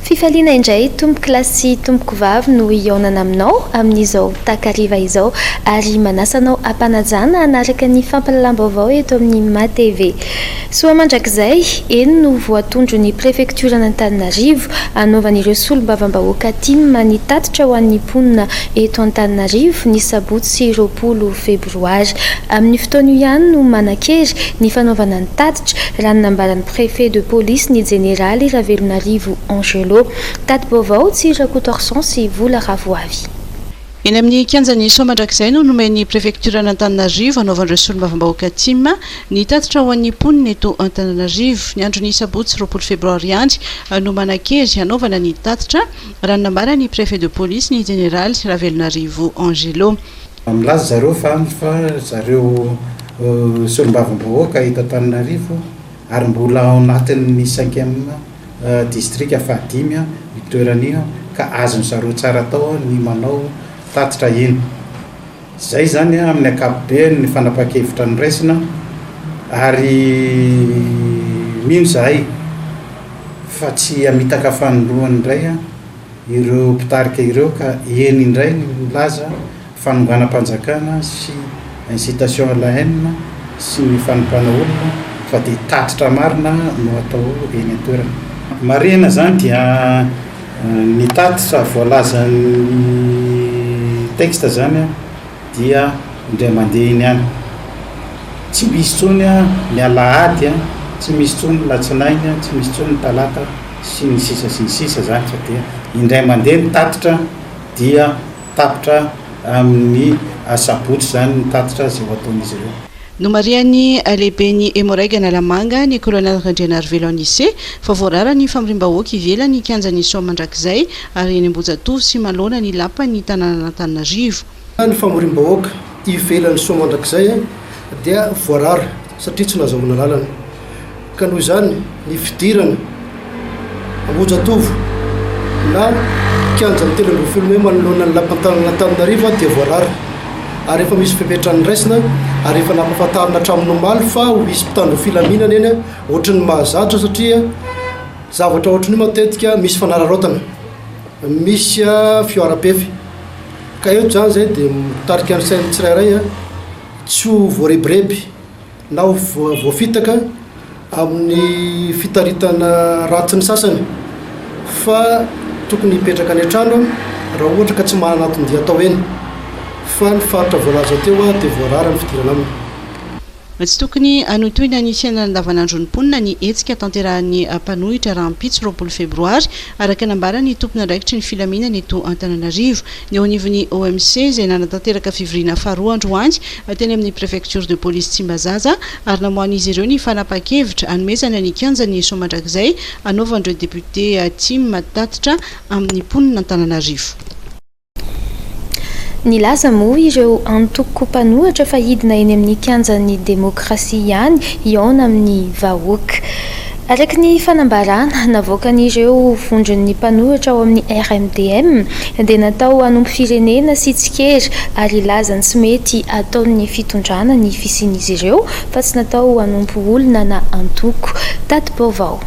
Fifaliana indray tompokolahy sy tompokovavy no hihaonana aminao amin'izao takariva izao ary manasa anao hampanajana hanaraka ny fampahalalam-baovao eto amin'ny maha TV. Soa mandrakizay, eny no voatondro ny prefektioran'Antananarivo, hanaovan'ireo solombavambahoaka tim ny tatitra ho an'ny mponina eto Antananarivo ny sabotsy roapolo febroary. Amin'ny fotoan'io ihany no manan-kery ny fanaovana ny tatitra, raha ny nambaran'ny préfet de police ny jeneraly Ravelonarivo Angelo. Tati-baovao, Tsiry Rakotoarison sy Vola Ravoavy. Eny amin'ny kianjan'i Soamandrakizay no nomen'ny prefektioran'Antananarivo hanaovan'ireo solombavambahoaka Tim ny tatitra ho an'ny mponina eto Antananarivo. Ny andron'ny sabotsy roapolo febroary andry no manan-kery hanaovana ny tatitra, raha ny nambaran'ny prefet de police, ny jeneraly Ravelonarivo Angelo. Milaza zareo fa andry fa zareo solombavambahoaka eto Antananarivo ary mbola ao anatin'ny cinquième distrika fahadimy io toerana io ka azon-dry zareo tsara atao ny manao tatitra iny. Izay izany amin'ny ankapobeny ny fanapahan-kevitra noraisina ary mino izahay fa tsy hamitaka fanindroany indray ireo mpitarika ireo ka eny indray ny milaza fanonganam-panjakana sy incitation à la haine sy ny fanompoana olona fa dia tatitra marina no atao eny an-toerana. Marihina izany dia ny tatitra voalazan'ny texte izany an! dia indray mandeha iny ihany, tsy misy intsony ny alahady, tsy misy intsony ny latsinainy, tsy misy intsony ny talata sy ny sisa sy ny sisa izany fa dia indray mandeha ny tatitra dia tapitra amin'ny asabotsy izany ny tatitra izay ho ataon'izy ireo. Nomarihan'ny lehiben'ny Hemoraig Analamanga, ny Colonel Randrianarivelo Anise, fa voarara ny famoriam-bahoaka ivelan'ny kianjan'i Soa mandrakizay ary eny Ambohijatovo sy manoloana ny lapan'ny tanànan'Antananarivo. Raha ny famoriam-bahoaka ivelan'i Soa mandrakizay dia voarara satria tsy nahazoana lalana. ka noho izany ny fidirana Ambohijatovo na kianjan'ny telo ambin'ny folo mey manoloana ny lapan'ny tanan'Antananarivo dia voarara ary efa misy fepetra niraisina ary efa nampahafantarina hatramin'ny omaly fa ho hisy mpitandro ny filaminana eny ohatry ny mahazatra satria zavatra ohatry ny matetika misy fanararaotana misy fihoaram-pefy ka eto izany izay dia mitarika ny sain'ny tsirairay tsy ho voarebireby na ho voafitaka amin'ny fitaritana ratsy ny sasany fa tokony hipetraka any an-trano raha ohatra ka tsy manana anton-dia atao eny fa ny faritra voalaza teo dia voarara ny fidirana aminy. Tsy tokony hanontohina ny fiainana andavanandron'ny mponina ny hetsika tanterahan'ny mpanohitra rahampitso roapolo febroary, araka nambaran'ny tompon'andraikitry ny filaminana eto Antananarivo. Ny eo anivon'ny OMC, izay nanatanteraka fivoriana faharoa androany, teny amin'ny Préfecture de Police Tsimbazaza ary namoahan'izy ireo ny fanapahan-kevitra hanomezana ny kianjan'ny Heso mandrakizay hanaovan'ireo député Tim tatitra amin'ny mponin'Antananarivo. Nilaza moa ireo antoko mpanohatra fa hidina eny amin'ny kianjan'ny demokrasia ihany hihaona amin'ny vahoaka. Araka ny fanambarana navoakan'ireo vondron'ny mpanoratra ao amin'ny RMDM dia natao hanompo firenena sy tsikera ary hilaza ny tsy mety ataon'ny fitondrana ny fisian'izy ireo fa tsy natao hanompo olona na antoko. Tati-baovao.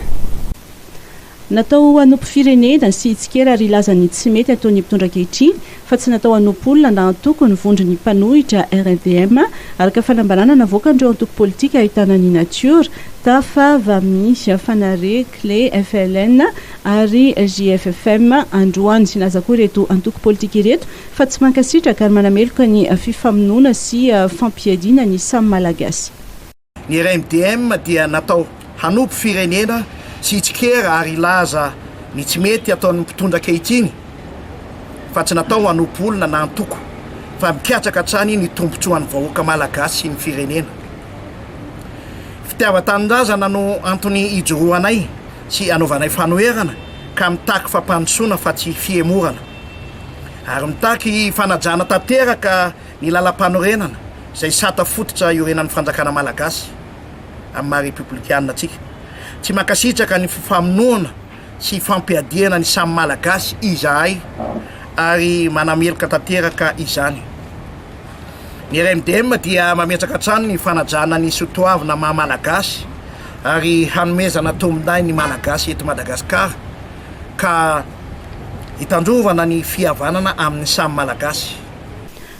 Natao hanompo firenena sy tsikera ary hilaza ny tsy mety ataon'ny mpitondra ankehitriny fa tsy natao hanompo olona na antoko ny vondron'ny mpanohitra RFDM, araka fanambarana navoakan'ireo antoko politika ahitana ny Nature, Tafa, Vami, Fanare, Cle, FLN ary JFFM androany. Nilaza koa ireto antoko politika ireto fa tsy mankasitraka ary manameloka ny fifamonoana sy fampiadiana ny samy Malagasy. Ny RMDM dia natao hanompo firenena sy hitsikera ary hilaza ny tsy mety ataon'ny mpitondra ankehitriny fa tsy natao hanompo olona na antoko fa mikatsaka hatrany ny tombotsoan'ny vahoaka malagasy sy ny firenena. Fitiavan-tanindrazana no antony ijoroanay sy anaovanay fanoherana ka mitaky fampandrosoana fa tsy fihemorana ary mitaky fanajana tanteraka Ny lalampanorenana izay sata fototra iorenan'ny fanjakana malagasy amin'ny maha repoblikanina antsika. Tsy mankasitraka ny fifamonoana sy ifampiadiana ny samy malagasy izahay ary manameloka tanteraka izany. Ny RMDM dia mametraka hatrany ny fanajana ny sotoavina maha malagasy ary hanomezana tombondahy ny malagasy eto Madagasikara ka hitandrovana ny fihavanana amin'ny samy malagasy.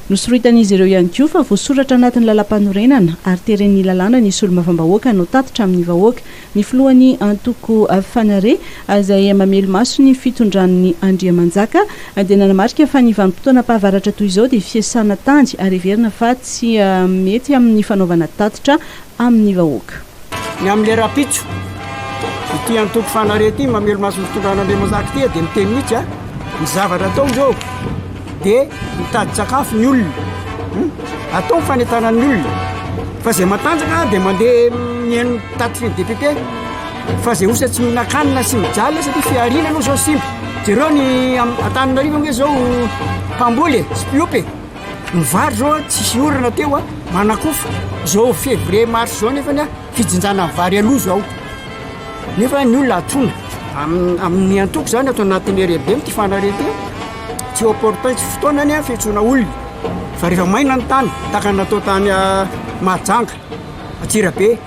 Nosoroitan'izy ireo ihany koa fa voasoratra anatin'ny lalampanorenana ary teren'ny lalàna ny solombavambahoaka hanao tatitra amin'ny vahoaka. Ny filohan'ny antoko Fanare, izay mamely maso ny fitondran'ny Andriamanjaka, dia nanamarika fa ny vanim-potoanam-pahavaratra toy izao dia fiasana tany ary heverina fa tsy mety amin'ny fanaovana tatitra amin'ny vahoaka. Ny amin'ilay rahampitso, ity antoko fanare ity mamelo maso ny fitondran'Andriamanjaka ity dia miteny mihitsy a, ny zavatra atao izao dia mitady sakafo ny olona, hmm? atao ny fanentanan'ny olona, fa izay matanjaka dia mandeha mihaino taty fivy député, fa izay osa tsy mihinan-kanina sy mijaly satria fihariana aloha izao simba, jereo ny Antananarivo ange izao mpamboly e, sy mpiompy e. Ny vary zao tsisy orana teo a, manakofa. Zao février mars zao nefany a, fijinjana ny vary aloha zao. Nefa ny olona atona. Am- amin'ny antoko zany ato anatin'ny heriheribe mity fanareten. Tsy opportun, tsy fotoanany a fiantsoana olona. Fa rehefa maina ny tany, tahaka ny natao tany a Mahajanga, Antsirabe.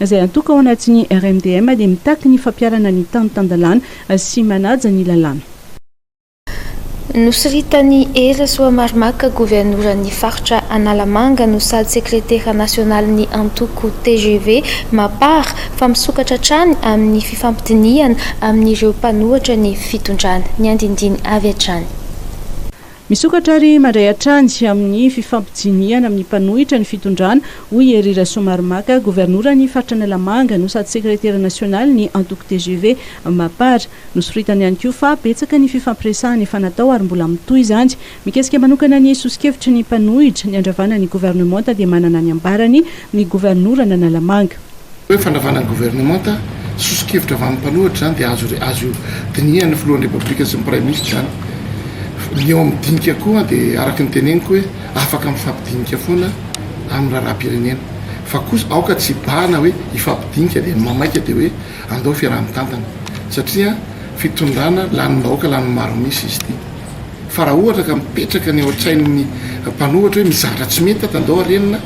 izay antoko ao anatin'ny RMDM dia mitaky ny fampiharana ny tany tan-dalàna sy manaja ny lalàna. Nosoritan'i Hery Rasoamaromaka, governoran'ny faritra Analamanga no sady sekretera nasionalin'ny antoko tgv Mapar, fa misokatra hatrany amin'ny fifampidinihana amin'ireo mpanohatra ny fitondrana. Ny andinindiny avy hatrany. Misokatra ary mandray hatrany amin'ny fifampidinihana amin'ny mpanohitra ny fitondrana, hoy i Hery Rasoamaromaka, governoran'ny faritra Analamanga no sady sekretera nasionalin'ny antoko tgv Mapar. Nosoritany ihany koa fa betsaka ny fifampiresahana efa natao ary mbola mitohy izany. Mikasika manokana ny soso-kevitry ny mpanohitra ny handravana ny governemanta dia manana ny ambarany ny governoran'Analamanga. Ny hoe fandravana ny governemanta, soso-kevitra avy amin'ny mpanohitra izany dia azo azo dinihan'ny filohan'ny Repoblika sy ny Praiminisitra izany. Ny eo amin'ny dinika koa dia araka ny teneniko hoe afaka mifampidinika foana amin'ny raharaham-pirenena. Fa kosa aoka tsy hibahana hoe hifampidinika dia ny mamaika dia hoe andao fiaraha-mitantana. Satria fitondrana lanim-bahoaka lanin'ny maro misy izy ity. Fa raha ohatra ka mipetraka ny ao an-tsain'ny mpanohatra hoe mizara tsy mety ato andao arenina,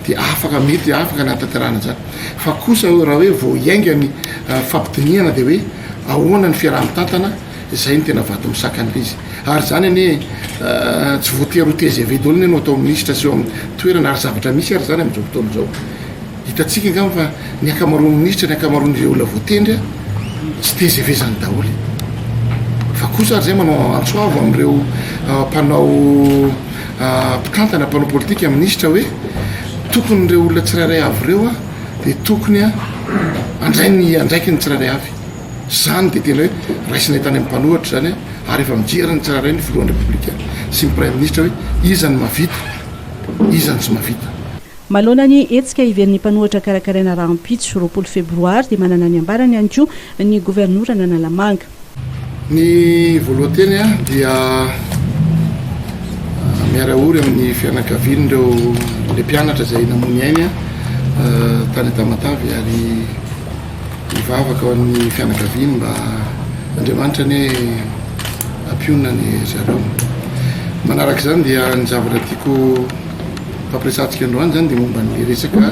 dia afaka mety afaka ny hataterana izany fa kosa hoe raha hoe vao hiainga ny ah, fampidinihana dia hoe ahoana ny fiaraha-mitantana izay ny tena vato misakan'ilay izy ary izany anie ah, tsy voatery ho tgv daholo ne no atao minisitra sy eo amin'ny toerana ary zavatra misy ary izany amin'izao fotoana izao hitantsika angamba fa ny ankamaroan'ny minisitra ny ankamaroan'ireo olona voatendry a tsy tgv izany daholo fa kosa ary izay manao antsoavo amin'ireo ah, mpanao mpitantana, mpanao politika, minisitra hoe tokony ireo olona tsirairay avy ireo a dia tokony a andray ny andraikiny tsirairay avy zany dia tena hoe raisinay tany amin'ny mpanohatra izany a ary efa mijery ny tsirairay ny filohan'ny repoblika sy ny praiminisitra hoe izany mavita izany tsy mavita Manoloana ny hetsika hiverin'ny mpanohatra karakaraina rahampitso, roapolo febroary, dia manana ny ambarany ihany koa ny governoran'Analamanga. Ny voalohan-teny dia miara ory amin'ny fianakaviany ireo le mpianatra izay namony ainy tany Tamatavy ary mivavaka ao amin'ny fianakaviany mba Andriamanitra ne ampionona ny zareo. Manaraka izany dia ny zavatra tiako hampiresahantsika androany izany dia momba ny resaka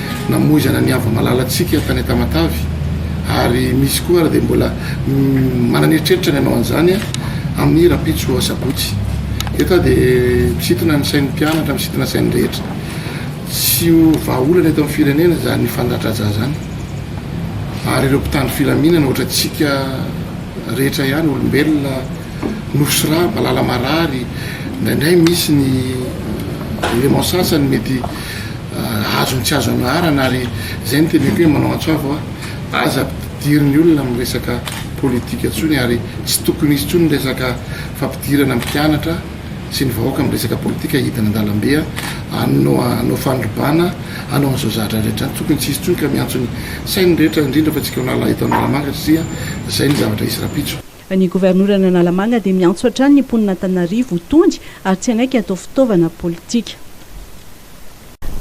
namoizana ny avo malalantsika tany Tamatave ary misy koa ary dia mbola manana eritreritra ny hanao an'izany amin'ny rahampitso asabotsy eto aho dia misintona ny sain'ny mpianatra misintona sain'ny rehetra tsy ho vahaolana eto amin'ny firenena izany fandradraja zany ary ireo mpitandro filaminana ohatratsika rehetra ihany olombelona Nosy Raha, Valala Marary, indraindray misy ny éléments sasany mety azony tsy azo anaharana ary izay no teneniko hoe manao antso avo aho, aza ampidirin' ny olona amin'ny resaka politika intsony ary tsy tokony hisy intsony ny resaka fampidirana ny mpianatra sy ny vahoaka amin'ny resaka politika hidina an-dalambe hanao hanao fanodrobana hanao an'izao zahatra rehetra izany, tokony tsy hisy intsony ka miantso ny sain'ny rehetra indrindra fa antsika ao Analahito Analamanga satria izay ny zavatra hisy rahampitso. Ny governoran'Analamanga dia miantso hatrany ny mponin'Antananarivo ho tony ary tsy hanaiky hatao fitaovana politika.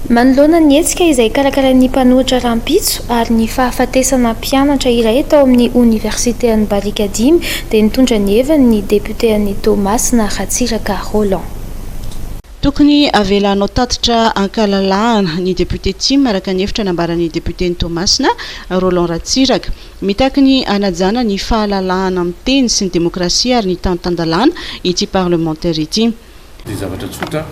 Manoloana ny hetsika izay karakarain'ny mpanohitra rahampitso ary ny fahafatesana mpianatra iray tao amin'ny oniversiten'i Barikadimy dia nitondra ny heviny ny depioten'i Toamasina Ratsiraka Roland. Tokony avela hanao tatitra an-kalalahana ny depiote Tim araka ny hevitra nambaran'ny depioten'i Toamasina, Roland Ratsiraka. Mitaky ny hanajana ny fahalalahana miteny sy ny demokrasia ary ny tany tan-dalàna ity parlemantera ity. Ny zavatra tsotra,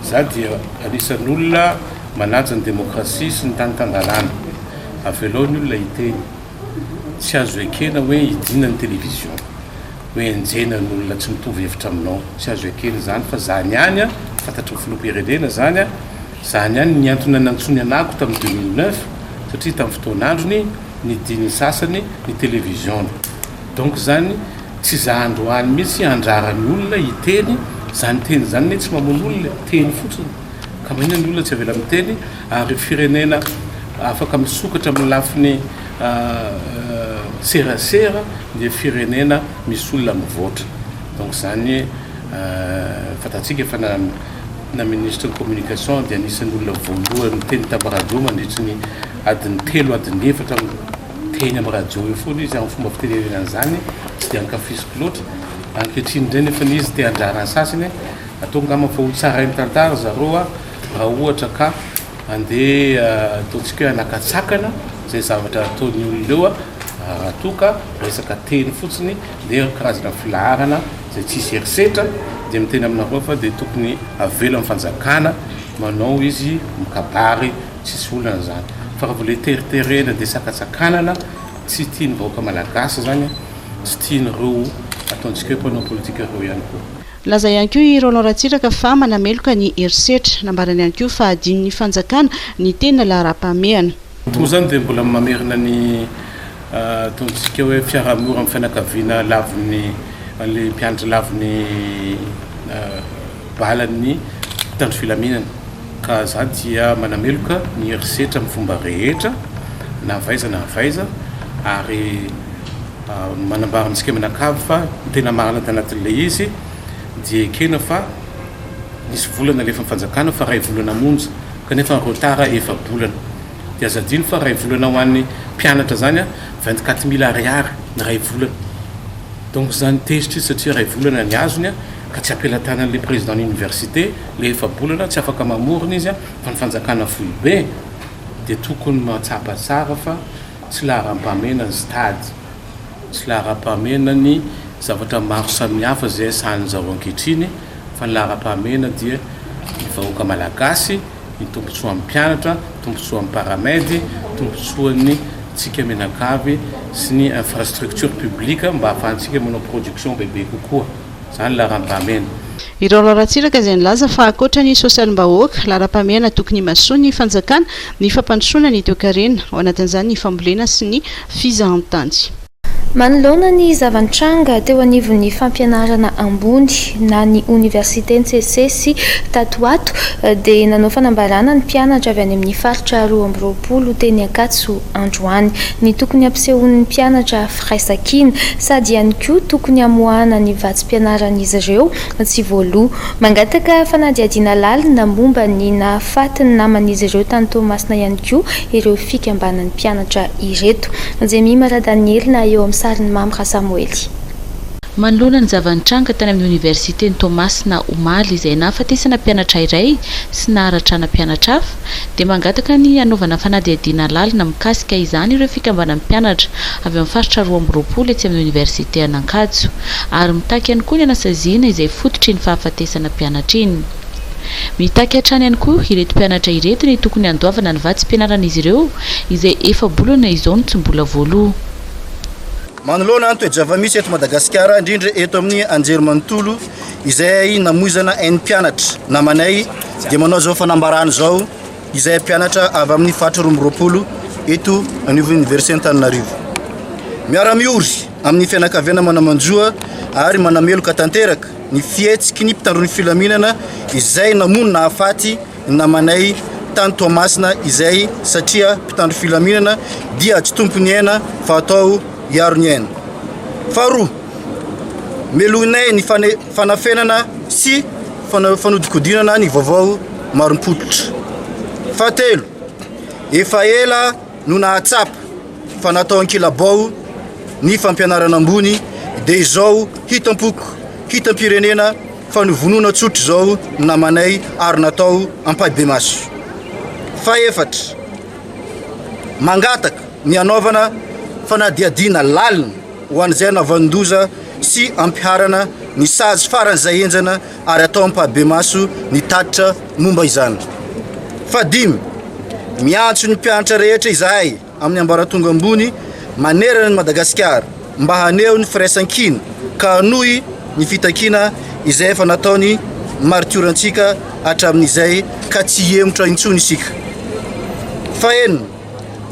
izaho dia anisan'olona manaja ny demokrasia sy ny tany tan-dalàna. Avelao ny olona hiteny. Tsy azo ekena hoe hidiana ny television, hoe enjehina ny olona tsy mitovy hevitra aminao. Tsy azo ekena izany fa izany ihany, fantatry ny filoham-pirenena izany, izany ihany ny antony nanantsoiny anako tamin'ny deux mille neuf satria tamin'ny fotoan'androny, nidin'ny sasany ny televiziona donc zany tsy za androany mitsy andrarany olona hiteny zany teny zany ne tsy mamono olona e teny fotsiny ka maninona ny olona tsy avela miteny ary firenena afaka misokatra amin'ny lafiny serasera dia firenena misy olona mivoatra donc zany fantatsika fa na na ministre ny communication dia anisan'ny olona voalohany niteny tamin'ny radio mandritry ny Adiny telo adiny efatra miteny amin'i Rajao eo foana izy amin'ny fomba fitenenena an'izany tsy dia ankafiziko loatra. Ankehitriny indray nefa izy te handrara ny sasany, atao angamba fa ho tsarain'ny tantara ry zareo raha ohatra ka andeha ataontsika hoe hanakatsakana izay zavatra ataon'ny olona eo raha toa ka resaka teny fotsiny dia karazana filaharana izay tsisy herisetra dia miteny aminareo fa dia tokony avela ny fanjakana manao izy mikabary Tsisy olana zany fa raha vao le teriterena de sakatsakanana tsy tian'ny vahoaka malagasy zany a, tsy tian'ireo ataontsika hoe mpanao politika ireo ihany koa. Nilaza ihany koa i Roland Ratsiraka fa manameloka ny herisetra. Nambarany ihany koa fa hadinon'ny fanjakana ny tena laharam-pahamehana. Toa izany dia mbola mamerina ny ataontsika hoe fiaraha-miora amin'ny fianakaviana lavon'ny an'ilay mpianatra lavon'ny. balan'ny mpitandro filaminana ka za dia manameloka ny herisetra amin'ny fomba rehetra na v'aiza na v'aiza ary manambara amintsika mianakavy fa ny tena marina tanatin'ilay izy dia ekena fa nisy vola nalefan'ny fanjakana fa iray volana monja kanefa ny retard efa-bolana dia aza adino fa iray volana ho an'ny mpianatra zany a vingt quatre mille ariary ny iray volana donc zany tezitra izy satria iray volana ny azony a ka tsy ampelatanany le président ny université le efa-bolana tsy afaka mamorona izy fa ny fanjakana foibe de tokony mahatsapa tsara fa tsy laharampahamena ny stade tsy laharampahamena ny zavatra maro samihafa zay sahanin zao ankehitriny fa ny laharampahamena dia ny vahoaka malagasy ny tombotsoan'ny mpianatra tombotsoan'ny paramed tombotsoan'ny tsika mianakavy sy ny infrastructure publique mba ahafahantsika manao production bebe kokoa. Izany laharam-pahamehana. Irao laharan-tsiraka izay nilaza fa ankoatra ny sosialim-bahoaka, laharam-pahamehana tokony himasoan'ny fanjakana ny fampandrosoana ny toekarena, ao anatin'izany ny fambolena sy ny fizahantany. Manoloana ny zava-nitranga teo anivon'ny fampianarana ambony na ny oniversite ntsesisesy tato ho ato dia nanao fanambarana ny mpianatra avy any amin'ny faritra roa amby roapolo teny Ankatso androany. Ny tokony hampisehoan'ny mpianatra firaisankina, sady ihany koa tokony hamoahana ny vatsim-pianaran'izy ireo tsy voaloa. Mangataka fanadihadiana lalina momba ny nahafaty ny naman'izy ireo tany Toamasina ihany koa ireo fikambanan'ny mpianatra ireto. Jemima Radanielina eo amin'ny sarin'i Mamy Rasamoely. Manoloana ny zava-nitranga tany amin'ny Oniversiten'i Toamasina omaly izay nahafatesana mpianatra iray sy naharatrana mpianatra hafa, dia mangataka ny hanaovana fanadihadiana lalina mikasika izany ireo fikambanan'ny mpianatra avy amin'ny faritra roa amby roapolo etsy amin'ny Oniversite an'Ankatso ary mitaky ihany koa ny hanasaziana izay fototr'iny fahafatesana mpianatra iny. Mitaky hatrany ihany koa ireto mpianatra ireto ny tokony handoavana ny vatsim-pianaran'izy ireo izay efa-bolana izao no tsy mbola voaloa. Manoloana ny toe-javamisy eto Madagasikara, indrindra eto amin'ny anjerimanontolo izay namoizana ain'ny mpianatra namanay dia manao izao fanambarana izao izay mpianatra avy amin'ny faritra roa amby roapolo eto anivon'ny Oniversiten'Antananarivo. Miara-miory amin'ny fianakaviana manamanjoa ary manameloka tanteraka ny fihetsiky ny mpitandro ny filaminana izay namono nahafaty ny namanay tany Toamasina izay satria mpitandro filaminana dia tsy tompon'ny aina fa atao hiaro ny aina. Faharoa, melohinay ny fanafenana sy fanodikodinana ny vaovao marim-pototra. Fahatelo, efa ela no nahatsapa fa natao ankilabao ny fampianarana ambony dia izao hitam-poko, hitam-pirenena Fa novonoina tsotra izao ny namanay ary natao ampahibemaso. Fahefatra, mangataka ny hanaovana fanadihadiana lalina ho an'izay hanaovan-doza sy hampiharana ny sazy faran'izay henjana ary atao ampahibemaso ny tatitra momba izany. Fahadimy, miantso ny mpianatra rehetra izahay amin'ny ambaratonga ambony manerana an'i Madagasikara mba haneho ny firaisankina ka hanohy ny fitakiana izay efa nataon'ny maritiorantsika hatramin'izay ka tsy hihemotra intsony isika. Fahenina,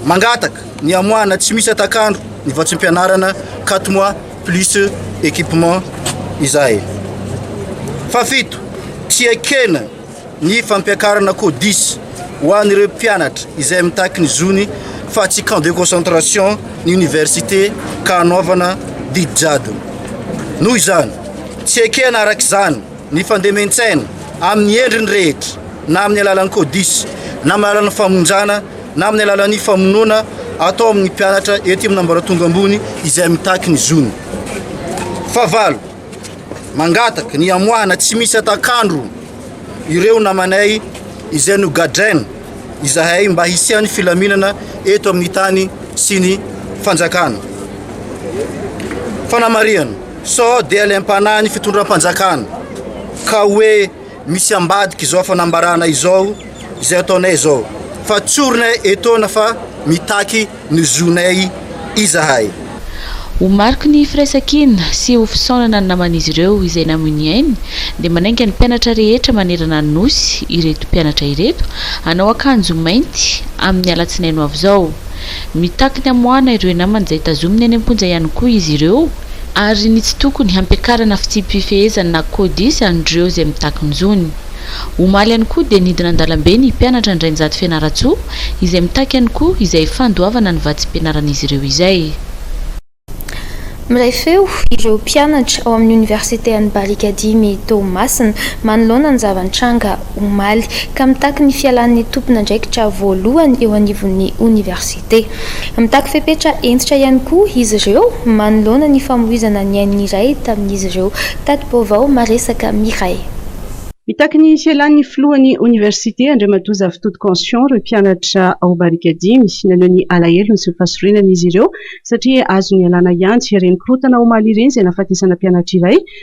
mangataka ny hamoahana tsy misy hatak'andro ny vatsim-pianarana quatre mois plus équipement izahay. Fahafito, tsy ekena Ny fampiakarana codis ho an'ireo mpianatra izay mitaky ny zony fa tsy camp de concentration ny oniversite ka hanaovana didy jadona. Noho izany, tsy ekena araka izany ny fandemen-tsaina amin'ny endriny rehetra na amin'ny alalan'ny codis na amin'ny alalan'ny famonjana na amin'ny alalan'ny famonoana atao amin'ny mpianatra ety amin'ny ambaratonga ambony izay mitaky ny zony. Fahavalo. mangataka ny hamoahana tsy misy atak'andro ireo namanay izay nogadraina izahay mba hisian'ny filaminana eto amin'ny tany sy ny fanjakana. Fanamarihana, sao dia laimpanahy ny fitondram-panjakana ka hoe Misy ambadika izao fanambarana izao izay ataonay izao fa tsorinay etoana fa mitaky ny zonay izahay. Ho mariky ny firaisankina sy ho fisaonana ny naman'izy ireo izay namoy ny ainy dia manainga ny mpianatra rehetra manerana ny Nosy ireto mpianatra ireto hanao akanjo mainty amin'ny alatsinainy ho avy izao. Mitaky ny hamoahana ireo namany izay tazominy any am-ponja ihany koa izy ireo. Ary ny tsy tokony hampiakarana fitsipi-pifehezana na codice an'ireo izay mitaky ny zony. Omaly ihany koa dia nidina an-dalambe ny mpianatra Andrainjato Fianarantsoa izay mitaky ihany koa izay fandoavana ny vatsim-pianaran'izy ireo izay. Miray feo ireo mpianatra ao amin'ny oniversite an'i Barikadimy Toamasina manoloana ny zava-nitranga omaly, ka mitaky ny fialan'ny tompon'andraikitra voalohany eo anivon'ny oniversite. Mitaky fepetra hentitra ihany koa izy ireo manoloana ny famoizana ny ain'ny iray tamin'izy ireo. Tati-baovao maresaka Mireille. Mitaky ny fialan'ny filohan'ny oniversite, Andriamatoa Zavitody Conscion, ireo mpianatra ao Barika dimy. Naneho ny alahelony sy ny fahasorenany izy ireo satria azony ialana hiantsy ireny korontana omaly ireny izay nahafatesana mpianatra iray.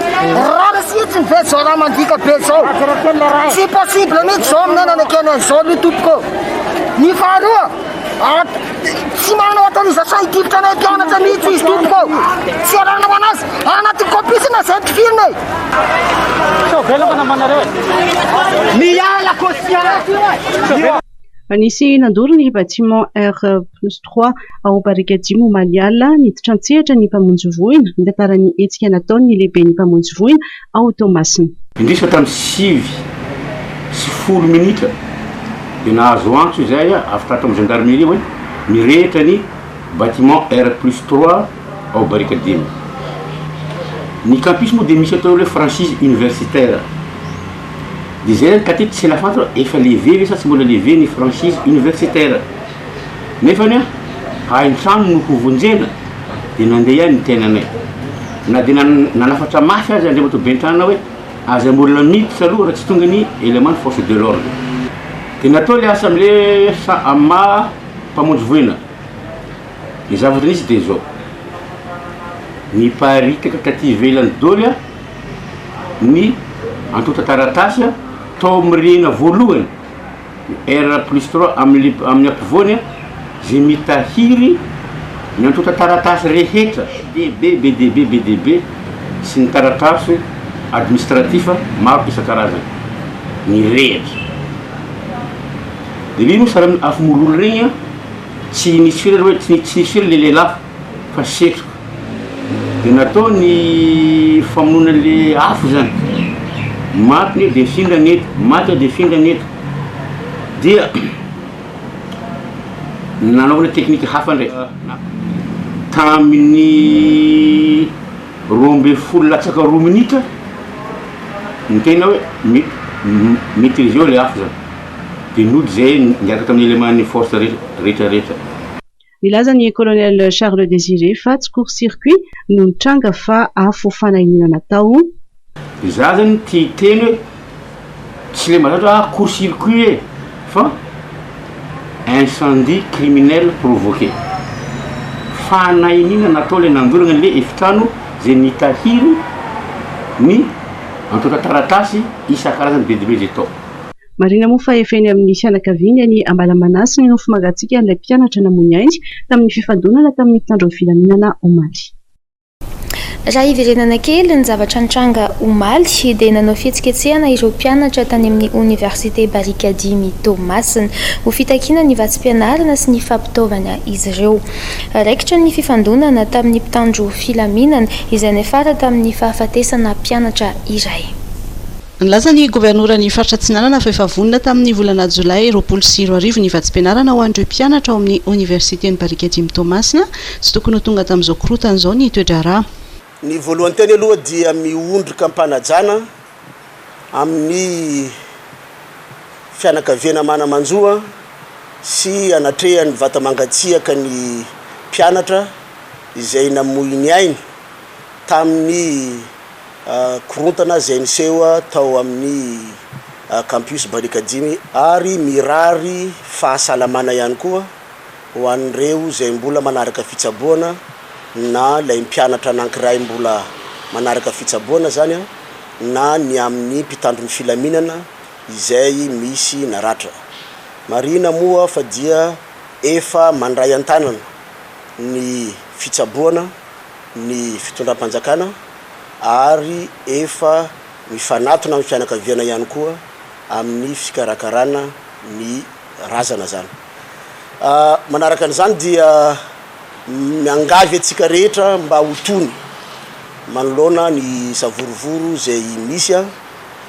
Rariny fihitsiny ve zao raha mandika be zao? Tsy possible mihitsy zao amin'ny anana kely an'izao aloha tompoko. Ny faharoa, tsy manana autorisation hidifitra anay mpianatra mihitsy izy tompoko. Tsy iarahana ho anazy anaty copie sina zay tifirina e. Sao velona namanareo e. Miala kosiara. Nisy nandoro ny bâtiment R plus trois ao Barikadimo omaly alina. Niditra an-tsehatra ny mpamonjy voina, nitantara ny hetsika nataony ny lehiben'ny mpamonjy voina ao Toamasina. Indrisy fa tamin'ny sivy sy folo minitra dia nahazo antso izahay avy tato amin'ny gendarmerie hoe mirehitra ny bâtiment R plus trois. ao Barikadimy. Ny campus moa dia misy atao hoe franchise universitaire. Dia izay ihany ka aty tsy la fantatra hoe efa levé ve sa tsy mbola levé ny franchise universitaire. Nefany an, hain-trano no hovonjena dia nandeha ihany ny tenanay. Na dia nanafatra mafy aza Andriamatoa Bentrana hoe aza molina miditra aloha raha tsy tonga ny élément ny force de l'ordre. Dia natao ilay asa amin'ilay sa-maha mpamonjy voina. Ny zava-dresy dia izao, niparitaka taty ivelany doly ny antontan-taratasy tao amin'ny rihana voalohany, ny R plus trois amin'ny amin'ny ampovoany, izay mitahiry ny antontan-taratasy rehetra, DB, BDB, BDB, sy ny taratasy administratif maro isan-karazany nirehitra. Dia ireny moa samy afo mololo ireny an! Tsy nisy firy aloha e, tsy nisy firy le lehilahy fa setroka. De natao ny famonoana an'le afo zany. Maty ny eo de findrana eto, maty ao de findrana eto. Dia nanaovana teknika hafa ndray. Tamin'ny roa ambin'ny folo latsaka roa minitra ny tena hoe mi-maîtriser-o le afo zany. Dia nody izay niaraka tamin'ny eleman'ny force rehetrarehetra. Nilaza ny Colonel Charles Désiré fa tsy court circuit no nitranga fa afo fanahiana natao. Izaho izany tia hiteny hoe tsy ilay malaza hoe ah court circuit e! fa incendie criminel provoqué. Fanahianiana natao ilay nandorana ilay efitrano izay nitahiry ny antontan-taratasy isan-karazany be dia be izay tao. Marihina moa fa efa eny amin'ny fianakaviany any Ambalamanasy ny nofo mangatsiakan'ilay mpianatra namoy ainy tamin'ny fifandonana tamin'ny mpitandro ny filaminana omaly. Raha hiverenana kely ny zavatra nitranga omaly dia nanao fihetsiketsehana ireo mpianatra tany amin'ny oniversite Barikadimy Toamasina. Ho fitakiana ny vatsim-pianarana sy ny fampitaovana izy ireo. Raikitra ny fifandonana tamin'ny mpitandro filaminana izay niafara tamin'ny fahafatesana mpianatra iray. Nilaza ny Governoran'ny Faritra Atsinanana fa efa vonona tamin'ny volana Jolay roapolo sy roa arivo ny vatsim-pianarana ho an'ireo mpianatra ao amin'ny Oniversiten'i Barikadimy Toamasina. Tsy tokony ho tonga tamin'izao korontana izao ny toe-draharaha. Ny voalohan-teny aloha dia miondrika am-panajana amin'ny fianakaviana mana-manjo sy anatrehan'ny vata mangatsiaka ny mpianatra izay namoy ny ainy tamin'ny. korontana izay niseho tao amin'ny Campus Barikadimy ary mirary fahasalamana ihany koa ho an'ireo izay mbola manaraka fitsaboana na ilay mpianatra anankiray mbola manaraka fitsaboana izany an, na ny amin'ny mpitandro ny filaminana izay misy naratra. Marihina moa fa dia efa mandray an-tanana ny fitsaboana. ny fitondram-panjakana ary efa mifanatona amin'ny fianakaviana ihany koa amin'ny fikarakarana ny razana izany. Manaraka an'izany dia miangavy antsika rehetra mba ho tony manoloana ny savorovoro izay misy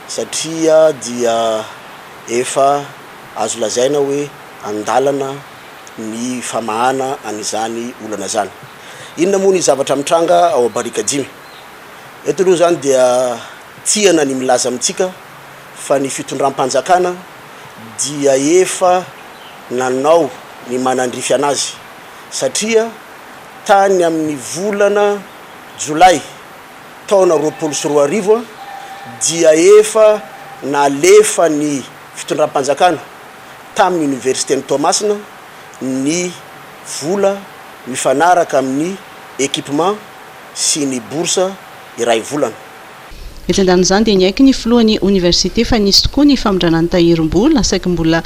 satria dia efa azo lazaina hoe an-dalana ny famahana an'izany olana izany. Inona moa ny zavatra mitranga ao Barikadimy? Eto aloha izany dia tiana ny milaza amintsika fa ny fitondram-panjakana dia efa nanao ny manandrify an'azy satria tany amin'ny volana jolay taona roapolo sy roa arivo dia efa nalefa ny fitondram-panjakana tamin'ny Oniversiten'i Toamasina ny vola mifanaraka amin'ny equipement sy ny bourse iray volana. Etsy an-danin'izany dia niaiky ny filohan'ny oniversite fa nisy tokoa ny famindrana ny tahirim-bola, saiky mbola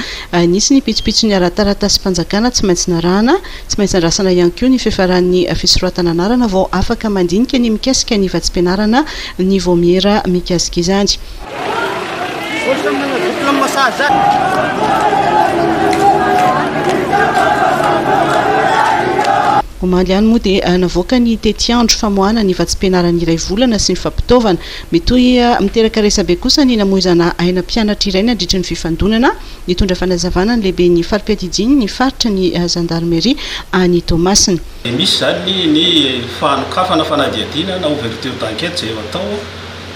nisy ny pitsopitsony ara-taratasim-panjakana tsy maintsy narahana. Tsy maintsy andrasana ihany koa ny fiafaran'ny fisoratana anarana vao afaka mandinika ny mikasika ny vatsim-pianarana ny vaomiera mikasika izany. Omaly ihany moa dia navoaka ny tetiandro famoahana ny vatsim-pianarana iray volana sy ny fampitaovana. Mitohy miteraka resabe kosa ny namoizana aina mpianatra iray nandritry ny fifandonana. Nitondra fanazavana ny lehiben'ny fari-piadidiany ny faritra ny zandarimeria any Toamasina. Misy izany ny fanokafana fanadihadiana na ouverture d'enquête izay eo atao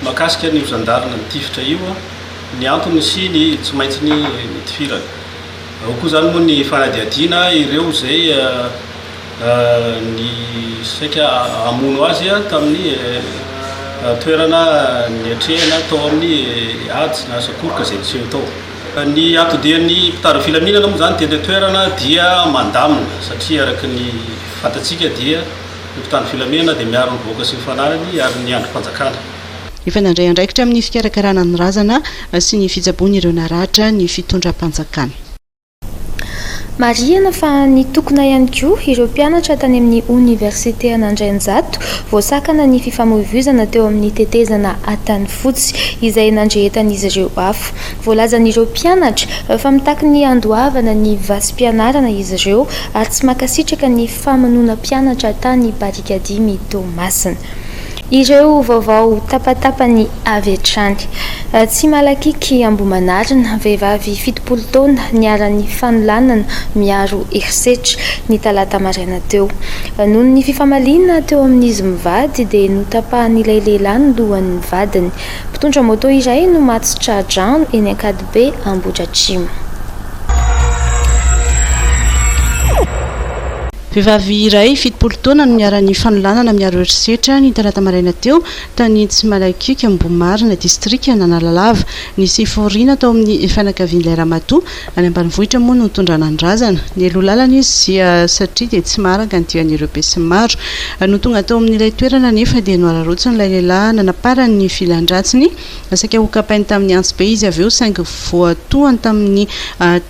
Mahakasika an'io zandary nitifitra io ny antony sy ny tsy maintsy nitifirany. Ao koa izany moa ny fanadihadiana ireo izay nisaika hamono azy tamin'ny toerana niatrehana tao amin'ny ady na sakoroka izay niseho tao. Ny atodian'ny mpitandro ny filaminana moa izany teny an-toerana dia mandamina satria araka ny fantatsika dia. Ny mpitandro filaminana dia miaro ny vahoaka sy ny fananany ary ny andrim-panjakana. Efa nandray andraikitra amin'ny fikarakarana ny razana sy ny fitsaboana ireo naratra ny fitondram-panjakana. Marihina fa nitokona ihany koa ireo mpianatra tany amin'ny Oniversite an'Andrainjato vao sakana ny fifamoivoizana teo amin'ny tetezana Antanifotsy izay nandrehetan'izy ireo afo. Voalazan'ireo mpianatra fa mitaky ny handoavana ny vasim-pianarana izy ireo ary tsy mankasitraka ny famonoana mpianatra tany Barikadimy ny Toamasina. Ireo vaovao tapatapany avy hatrany. Tsy malakiky Ambohimanarina, vehivavy fitopolo taona niharan'ny fanolanana miaro herisetra, ny talata maraina teo. Noho ny fifamaliana teo amin'izy mivady dia notapahan'ilay lehilahy ny lohan'ny vadiny. Mpitondra moto iray no maty tra-drano eny Ankadibe, Ambohidratrimo. Vehivavy iray fitopolo taona no niharan'ny fanolanana miaro herisetra, ny talata maraina teo, tany Tsimalakioky, Ambohimarina, distrikan'Analalava. Nisy fivoriana tao amin'ny fianakavian'ilay ramatoa, Any ambanivohitra moa no nitondrana ny razana. Nialoha lalana izy satria dia tsy maharaka ny dian'ireo besinimaro. Nony tonga tao amin'ilay toerana anefa dia nohararaotsiny ilay lehilahy nanaparany ny filan-dratsiny. Saika hokapainy tamin'ny antsy be izy avy eo saingy voatohany tamin'ny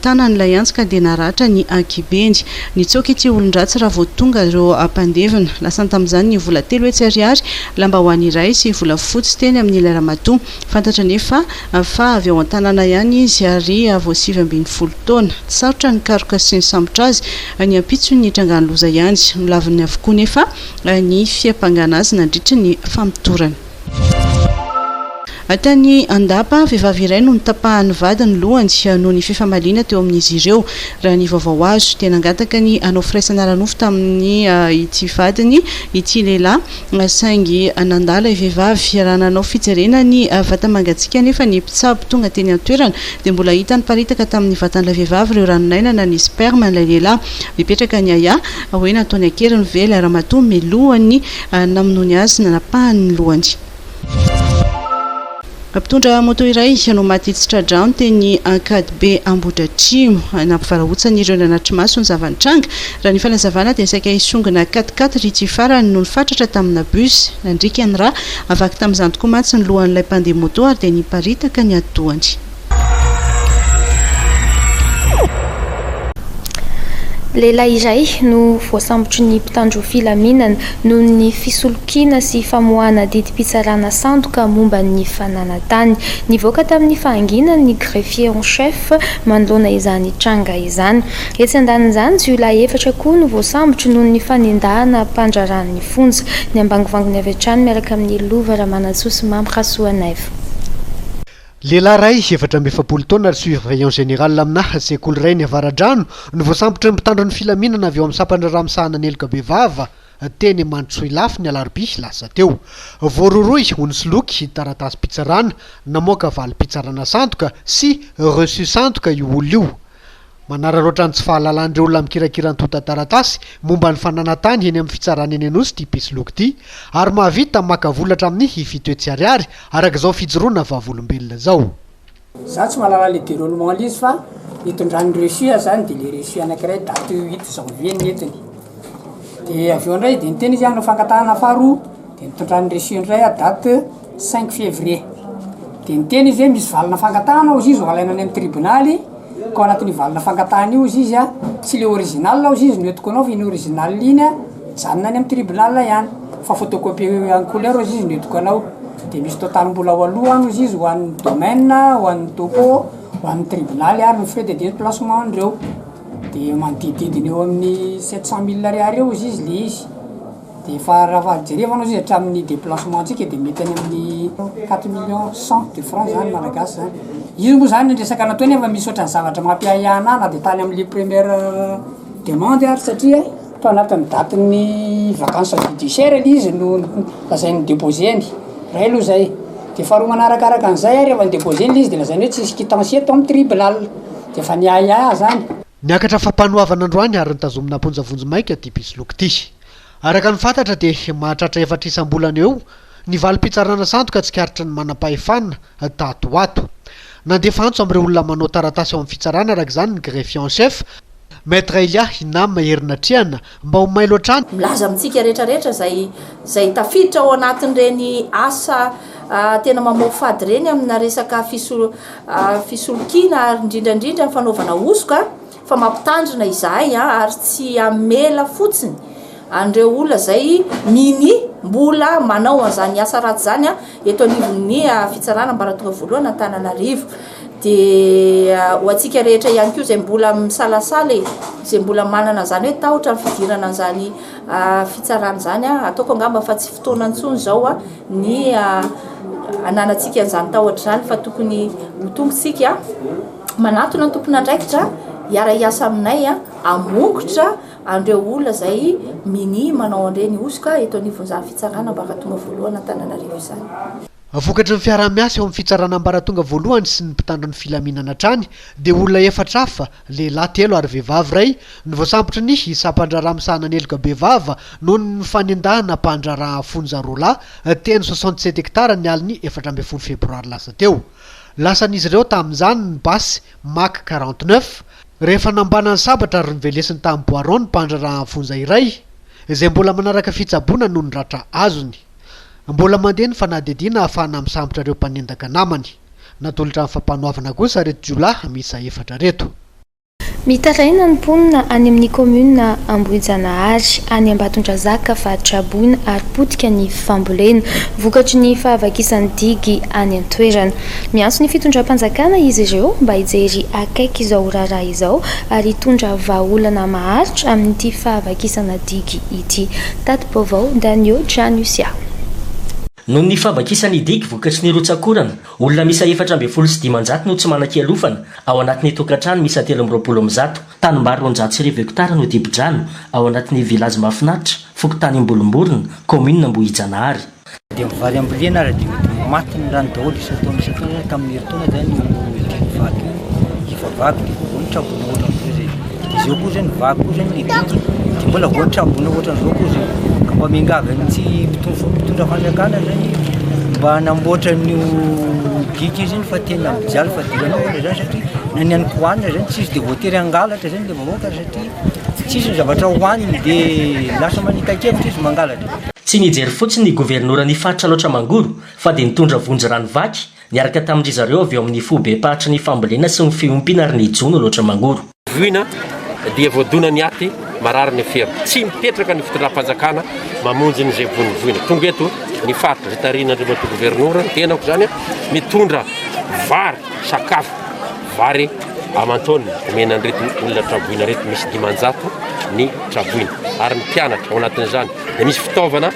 tanany ilay antsy ka dia naratra ny ankibeny. Nitsoaka ity olon-dratsy raha vao tonga ireo mpandevina. Lasany tamin'izany ny vola telo hetsy ariary, lambahoany iray sy volafotsy teny amin'ilay ramatoa. Fantatra anefa fa avy ao an-tanàna ihany izy ary vao sivy ambin'ny folo taona. Tsy sarotra ny nikaroka sy nisambotra azy. Ny ampitsony nitrangan'ny loza ihany. Milaviny avokoa anefa ny fiampangana azy nandritra ny famotorana. Tany Andapa, vehivavy iray no notapahan'ny vady ny lohany noho ny fifamaliana teo amin'izy ireo. Raha ny vaovao azo, dia nangataka ny hanao firaisana ara-nofo tamin'ity vadiny ity lehilahy. Saingy nandà ilay vehivavy. Raha nanao fijerena ny vata-mangatsiaka anefa ny mpitsabo tonga teny an-toerana, dia mbola hita niparitaka tamin'ny vatan'ilay vehivavy ireo ranon'aina na ny sperme an'ilay lehilahy. Nipetraka ny ahiahy hoe nataony an-keriny ve ilay ramatoa miloha ny namonoany azy, nanapahany ny lohany. Mpitondra moto iray no maty tsy tra-drano teny Ankadibe Ambohidratrimo. Nampivarahontsana ireo nanatri-maso ny zava-nitranga. Raha ny fanazavana dia saika hisongona quat quat ry ity farany no nifatratra tamina bus. Nandriaka ny rà. Vaky tamin'izany tokoa mantsy ny lohan'ilay mpandeha moto ary dia niparitaka ny atidohany. Lehilahy iray no voasambotry ny mpitandro filaminana noho ny fisolokiana. kiana sy famoahana didim-pitsarana sandoka momba ny fananantany. Nivoaka tamin'ny fahanginany ny greffier en chef manoloana izany tranga izany. Etsy andanin'izany, jiolahy efatra koa no voasambotry noho ny fanendahana mpandraharaha ny fonja. Niambangivanginy avy hatrany miaraka amin'ny lova Ramanantsoa sy Mamy Rasoanaivo. Lehilahy iray, efatra amby efapolo taona ary surveillant général aminà sekoly iray any Avaradrano no voasambotry ny mpitandro ny filaminana avy ao amin'ny sampandraharaha misahana ny heloka bevava, teny Mandrosoilafy ny alarobia lasa teo. Voarohirohy ho nisoloky ny taratasim-pitsarana namoaka valim-pitsarana sandoka sy reçu sandoka io olona io. Manararaotra ny tsy fahalalan'ireo olona mikirakira antontan-taratasy momba ny fananan-tany eny amin'ny fitsarana eny Anosy ity mpisoloky ity ary mahavita maka vola hatramin'ny fito hetsy ariary araka izao fijoroana vavolombelona izao. Za tsy mahalala le deroulement le izy fa nitondran'i Russie zany de le Russie anakiray date huit janvier nentiny de avy eo ndray de niteny izy hanao fangatahana faharoa de nitondran'i Russie ndray ah date cinq fevrier de niteny izy hoe misy valina fangatahana hozy izy ho alaina any amin'ny tribonaly ka ao anatin'io valina fangatahana io hozy izy ah tsy le original hozy izy no entiko anao fa iny original iny ah Mijanona any amin'ny tribunal ihany fa photocopier en couleur ozy izy no entiko anao de misy total mbola ao aloha any ozy izy ho an'ny domaine ho an'ny topo ho an'ny tribunal ary ny frais de deplacement andreo de manodidididina eo amin'ny sept cent mille ariary eo ozy izy le izy de efa raha jerevana ozy izy hatramin'ny deplacement ntsika de mety any amin'ny quatre million cent de franc zany malagasy zany io moa zany ny resaka nataony efa misy ohatran'ny zavatra mampiahiahy anahy na de tany amle première demande ary satria Tao anatin'ny datin'ny vacance judiciaire le izy no lazainy ny deposer-ny, iray aloha zay, de faharoa manarakaraka an'izay ary efa ni-deposer-ny ilay izy de lazainy hoe tsisy quittance eto amin'ny tribunal, de efa niahiahy zany. Niakatra fampanoavana androany ary nitazomina am-ponja vonjimaika ity mpisoloky ity. Araka ny fantatra dia mahatratra efatra isam-bolana eo ny valim-pitsarana sandoka tsikaritry ny manampahefana tato ho ato. Nandefa antso amin'ireo olona manao taratasy ao amin'ny fitsarana araka izany ny greffier en chef Maître Elia Hinam Herinatrehana, mba ho mailo hatrany. Milaza amintsika rehetra rehetra izay izay tafiditra ao anatin'ireny asa tena mamoafady ireny amina resaka fisolokiana ary indrindra indrindra ny fanaovana hosoka fa mampitandrina izahay ary tsy hamela fotsiny an'ireo olona izay mini mbola manao an'izany asa ratsy izany eto anivon'ny fitsarana ambaratonga voalohany Antananarivo. Dia ho antsika rehetra ihany koa izay mbola misalasala e, izay mbola manana izany hoe tahotra ny fidirana an'izany fitsarana izany, ataoko angamba fa tsy fotoana intsony izao ny hananantsika an'izany tahotra izany fa tokony ho tonga isika manatona ny tompon'andraikitra hiara-hiasa aminay hamongotra an'ireo olona izay minia manao an'ireny hosoka eto anivon'izany fitsarana ambaratonga voalohany Antananarivo izany. Vokatry ny fiaraha-miasa eo amin'ny fitsarana ambaratonga voalohany sy ny mpitandro ny filaminana hatrany dia olona efatra hafa, lehilahy telo ary vehivavy iray, no voasambotra ny sampan-draharaha misahana ny heloka bevava noho ny fanendahana mpandraharaha fonja roa lahy teny soixante sept hectares ny alin'ny efatra ambin'ny folo febroary lasa teo. Lasan'izy ireo tamin'izany ny basy Mack quarante neuf rehefa nambanany sabatra ary novelesiny tamin'ny boiron ny mpandraharaha fonja iray izay mbola manaraka fitsaboana noho ny ratra azony. Mbola mandeha ny fanadihadiana ahafahana misambotra ireo mpanendaka namany. Natolotra ny fampanoavana kosa ireto jiolahy miisa efatra ireto. Mitaraina ny mponina any amin'ny kaominina Ambohijanahary, any Ambatondrazaka fa traboina ary potika ny fambolena, vokatry ny fahavakisan'ny digy any an-toerana. Miantso ny fitondram-panjakana izy ireo mba hijery akaiky izao raharaha izao ary hitondra vahaolana maharitra amin'ity fahavakisana digy ity. Tati-baovao, Danio Janusia. Noho ny fahavakisan'ny digy vokatry ny rotsak'orana, olona miisa efatra ambin'ny folo sy dimanjato no tsy manan-kialofana ao anatin'ny tokantrano miisa telo amby roapolo amby zato. Tanimbary roanjato sy arivo hektara no dibo-drano ao anatin'ny Village Mahafinaritra, fokontany Ambolomborona, kaominina Ambohijanahary. Dia ny vary ambolena ary dia mety ho maty ny rano daholo isan-taona isan-taona izany ka amin'ny herintaona izany io hidiran'ny vato io efa vaky dia vao voan'ny trabona ohatra amin'izao izay. Izy eo koa izay ny vaky koa izay no lehibe dia mbola voan'ny trabona ohatra amin'izao koa izay. Ka mba miangavy an'ny tsy mpitondra mpitondra fanjakana izany mba hanamboatra an'io digue io izany fa tena mijaly fadiranovana izany satria na ny an'ny kohanina izany tsy izy dia voatery hangalatra izany ilay vahoaka satria tsy izy ny zavatra hohaniny dia lasa manita-kevitra izy mangalatra. Tsy nijery fotsiny ny governoran'ny faritra loatra Mangoro fa dia nitondra vonjy rano vaky niaraka tamin-dry zareo avy ao amin'ny foibem-paritra ny fambolena sy ny fiompiana ary ny jono loatra Mangoro. Voina dia voadona ny aty, marary ny fera. Tsy mipetraka ny fitondram-panjakana mamonjy ny izay voin'ny voina. Tonga eto ny faritra izay tarihin'Andriamatoa Governora, ny tenako izany, mitondra vary, sakafo, vary aman-taonina omena an'ireto olona tra-boina ireto, misy dimanjato ny tra-boina ary ny mpianatra ao anatin'izany. dia misy fitaovana,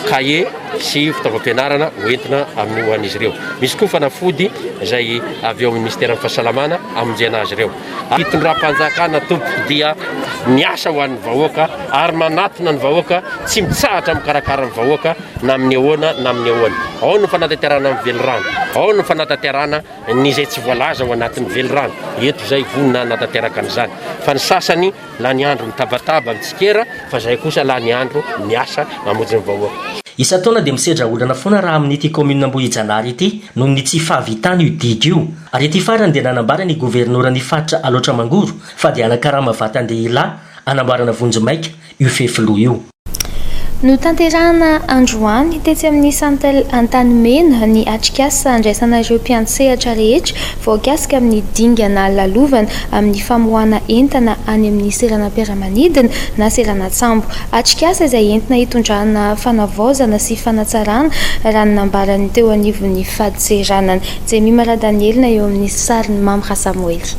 cahier, sy fitaovam-pianarana ho entina amin'ny ho an'izy ireo. Misy koa fanafody izay avy eo amin'ny Minisiteran'ny Fahasalamana hamonjena azy ireo. Fitondram-panjakana tompoko dia miasa ho an'ny vahoaka ary manatona ny vahoaka, tsy mitsahatra mikarakara ny vahoaka na amin'ny ahoana na amin'ny ahoana. Ao ny fanatanterahana ny velirano, ao ny fanatanterahana ny izay tsy voalaza ao anatin'ny velirano. Eto izay vonona hanatanteraka an'izany. Fa ny sasany Lany andro mitabataba mitsikera fa zay kosa lany andro miasa mamonjy ny vahoaka. Isan-taona dia misedra olana foana raha amin'ity kaominina Ambohijanahary ity noho ny tsy fahavitany io didy io. Ary ity farany dia nanambara ny governoran'ny faritra Alaotra Mangoro fa dia hanakarama vatan-dehilahy hanamboarana vonjimaika io fefiloha io. Notanterahina androany, tetsy amin'ny Santel Antanimena, ny atrikasa andraisana ireo mpiantsehatra rehetra voakasika amin'ny dingana lalovana amin'ny famoahana entana any amin'ny seranam-piaramanidina na seranan-tsambo. Atrikasa izay entina hitondrana fanavaozana sy fanatsarana, raha ny nambaran'ny teo anivon'ny fadintseranana. Jemima Radanielina eo amin'ny sarin'i Mamy Rasamoely.